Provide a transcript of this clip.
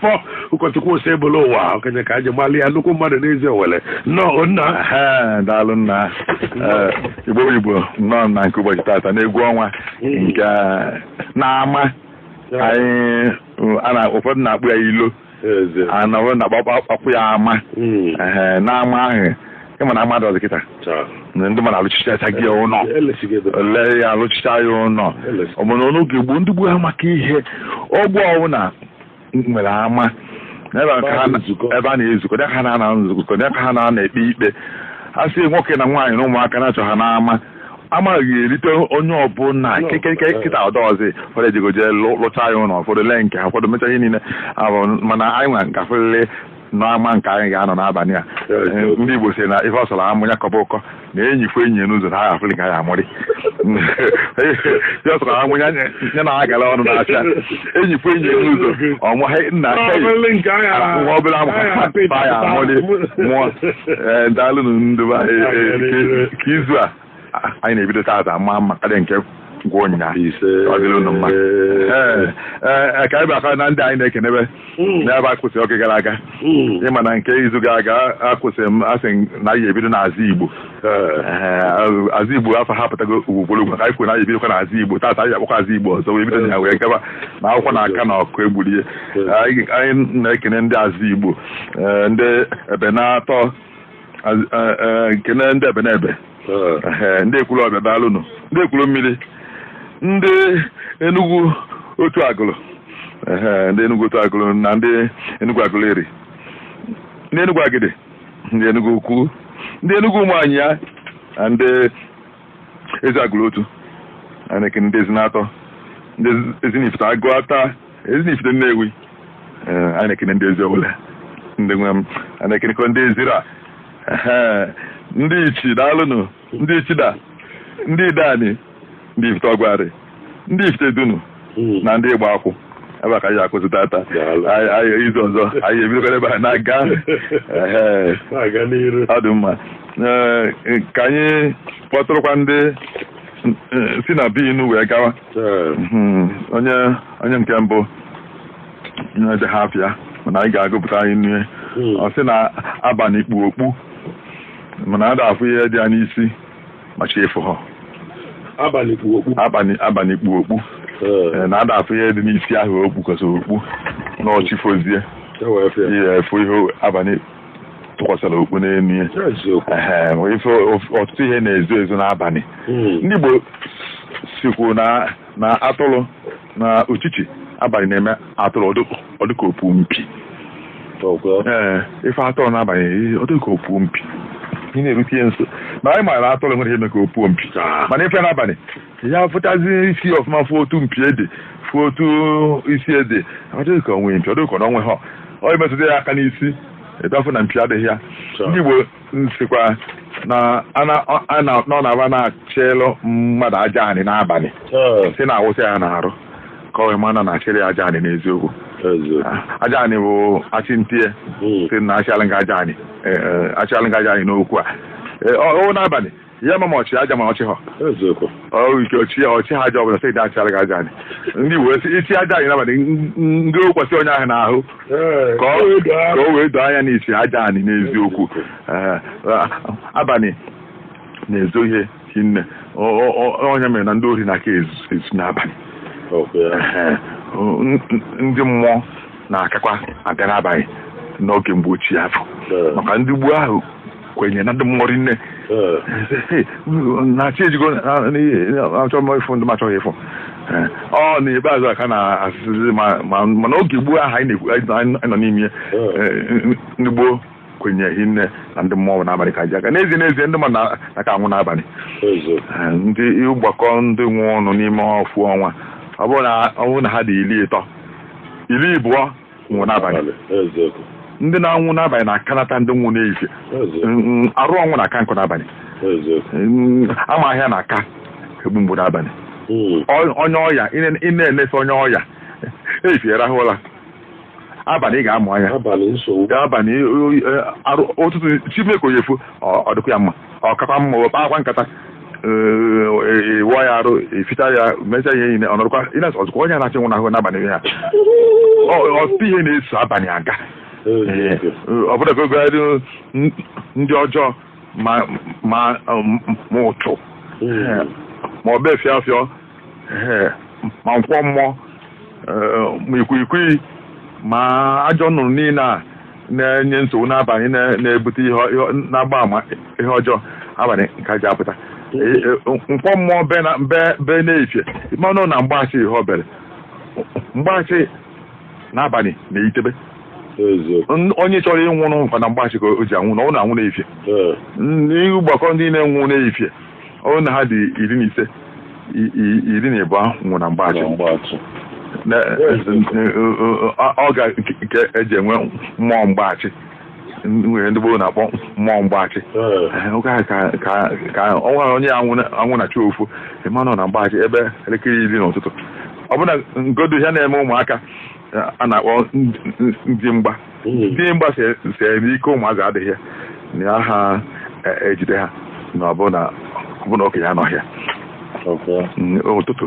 fọ ụkọchukwu Osebụlụwa okenye ka e ji malụ ya nnukwu mmadụ n'Eziowelle nnọọ nna Ee, daalụ nna Ee, igbo bụ igbo nnọọ na nke ụbọchị tata n'egwu ọnwa nke n'ama anyị a na- ụfọdụ na-akpọ ya ilo eze ana ụfọdụ na-akpọkwa ya ama Mm. Ee, n'ama ahụ ịma na mmadụ ọzọ kịta na ndị mmadụ alụchichacha gị ụlọ ele ya alụchicha ya ụlọ ọbụna n'oge gboo ndị gboo ha maka ihe ogbe ọbụla nwere ama ebe a ka ha na- ebe a na-ezukọ dị ka ha na-anọ nzukọ dị ka ha na-anọ ekpe ikpe a sị nwoke na nwaanyị na ụmụaka na-achọ ha n'ama amaghị erite onye ọbụla kekeke kịta ọ dịzi ụfọdụ ejego je lụcha ya ụlọ ụfọdụ lee nke ha ụfọdụ mecha ihe niile ahụ mana anyị nwa nke afọlele n'ama nke anyị ga-anọ n'abanị a ndị Igbo si na ife ọ sọrọ amụ ya kọba ụkọ na enyi fụ enyi n'ụzọ na a ga-afụrị ka ya amụrị ife ọ sọrọ amụ ya ya na-agala ọnụ n'afịa enyi fụ enyi n'ụzọ ọbụna nwa obere amụ ha ya amụrị mụọ daalụnụ ndị be anyị ka izu a anyị na-ebido taata maa mma karịa nke ngwa ụnyaahụ ise ọ dịrị unu mma Ee, ee, ka anyị bịakwa na ndị anyị na-ekenebe n'ebe a kwụsịrị oge gara aga ịma na nke izu gara aga akwụsịrị m asị m na anyị ebido n'Azigbo Ee, Azigbo afa ha pụtago ugboro ugboro ka anyị kwuru na anyị ebidokwa n'Azigbo taata anyị akpọkwa Azigbo ọzọ wee bido na ya wee gaba na akwụkwọ na aka na ọkụ egburu ihe anyị anyị na-ekene ndị Azigbo ee, ndị Ebenator kenee ndị Ebenebe ndị Ekwulobia daalụnụ ndị Ekwulummili ndị enugwu otu agụlụ ndị enugwu otu agụlụ na ndị enugwu Aguleri ndị enugwu Agidi ndị enugwu ukwu ndị enugwu Umuonyia na ndị Eziagulu otu a na-ekene ndị Ezinato ndị ezinifite Aguata ezinifite nnewi a na-ekene ndị Eziowelle ndị nwe m a na-ekenekwa ndị ezira ndị ichi daalụnụ ndị ichida ndị Ideani ndị ifite ọgwarị ndị Ifitedunu hmm. na ndị Igbakwu ebe a ka anyị ga-akwụsị tata anyị izu ọzọ anyị ebidokwa ebe a na-aga ọ dị mma ka anyị kpọtụrụkwa ndị si na bi inu wee gawa hmm, onye onye nke mbụ edeghị afa ya mana anyị ga-agụpụta anyị nne hmm. ọ sị na abanị kpu okpu mana a da-afụ ihe dị ya n'isi ma chi efoghị abanị kpu okpu abanị abanị kpu okpu Ee, na ada afụ ihe dị n'isi ahụ o kpukwasara okpu na ọ chi fozie e wee fụ ya. ihe a fụ ihe abanị kpukwasara okpu n'elu ya Ya eziokwu. Ehe, ma ife ọtụtụ ihe na-ezo ezo n'abanị Mm. ndị Igbo sikwu na na atụrụ na uchichi abalị na-eme atụrụ ọdịka opu mpi ee ị fụ atụrụ n'abalị ọdịka opu mpi ị na-erute ya nso ma anyị maara atụrụ nwere ihe meka opuo mpi mana ị fụ ya n'abalị ya fụtazi isi ọfụma fụ otu mpi ede fụ otu isi ede ọdịka o nwe mpi ọdịka na o nwehọ i metụta ya aka n'isi ị bịa fụ na mpi adịghị ya ndị Igbo sịkwa na ana- ọ- ana- nọ na ba na-achịlụ mmadụ aja anị n'abalị Ee, si na awụsa ya n'arụ ka o wee ma na a na-achịrị ya aja anị n'eziokwu eziokwu. Ah, aja anị bụ achị ntie Mm. si na achịalụ gị aja anị eh, eh, achịalụ gị aja anị n'okwu a Eh, ọ ọ n'abalị ị ya ama ma ọ chị aja ma ọ chịhọ eziokwu ọrụ ike ọchị ya ọchị ha aja ọbụla sị daa achịara gị aja anị ndị wee sị ị chị aja anị n'abalị n- n- ndị wụkwasị onye ahụ n'ahụ Ee, ka ọ- edo ahụ. ka o wee doo anya na ị chị aja anị n'eziokwu Ee, a- abalị na-ezo ihe hinne Ọ- ọ- ọ- ọ ya mere na ndị ori na-aka ezu ezu n'abalị Ọkwa ya. Ee, n- n- ndị mmụọ na-akakwa abịa n'abalị n'oge mgbe ochie afụ Ee. maka ndị gboo ahụ kwenye na ndị mmụọ rinne Eh, na chi ejigo na- na- achọ m ịfụ ndị m achọghị ịfụ Eh, ọ n'ikpeazụ a ka a na-asịzi ma- ma- mana oge gboo ahụ anyị na-ekwu- anyị nọ- anyị nọ n'ime ya eh, ndị gboo kwenye hinne na ndị mmụọ n'abalị ka ha ji aga n'ezie n'ezie ndị mmadụ na- na-aka anwụ n'abalị eziokwu. Eh, na ị gbakọ ndị nwụnụ n'ime ọfụ ọnwa ọ bụrụ na ọ bụrụ na ha dị iri ịtọ iri ịbụọ nwụrụ n'abalị ndị na-anwụ n'abalị na-akanata ndị nwụ n'ehihie arụ ọnwụ na-aka nkọ n'abalị ama ahịa na-aka egbu mgbu n'abalị hmm. onye ọya ị na-enese onye ọya ehihie rahụ ụra abalị ị ga-amụ anya abalị ụtụtụ chi me ka ọ ya-efo ọ dịkwa ya mma ọ kakwa mma wee kpakwa nkata ị wụọ ya arụ eficha ya mecha ihe niile ọ nọrụkwa ị na-asị ọzụkwa onye na-achọ ịnwụ anwụ n'abalị ihe a ọtụtụ ihe na-eso abalị aga ọ bụrụ ebe gagharị ndị ọjọọ ma ma ma ụsụ ma ọ bụ efiafịọ ee, ma nkwọ mmụọ ee, ma ikwikwii ma ajọ nnụnụ niile a na-enye nsogbu n'abalị na- na-ebute ihe ọ- ihe ọ- na-agba ama ihe ọjọọ abalị ka ha ji apụta E- e- nkwọ mmụọ be na- be- be n'efifie ị manụ na mgbaasị ihe o bere mgbaasị n'abalị na-eyitebe eziokwu N- onye chọrọ ịnwụ ọkwa na mgbaasị ka o ji anwụ na ọ na-anwụ n'efifie ee. ị gbakọ ndị na-anwụ n'efifie ọ bụrụ na ha dị iri na ise i- i- iri na ịbụọ nwụrụ na mgbachi Ọrụ mgbachi. Na- ọ- ọ ga nke e ji enwe mmụọ mgbachi nwere ndị gboo na-akpọ mmụọ mgbachi Ee. Ee, oge ahụ ka ka ka ọ nwere onye anwụ na- anwụ na chi ofu ị manụ na mgbachi ebe elekere iri n'ụtụtụ ọbụna ngodo ihe na-eme ụmụaka eh, a na-akpọ ndị- ndị mgba hmm. dị mgba sere n'ike ụmụazị adịghị na ya ha e, e jide ha na ọbụna okenye anọghị ya hmm, ụtụtụ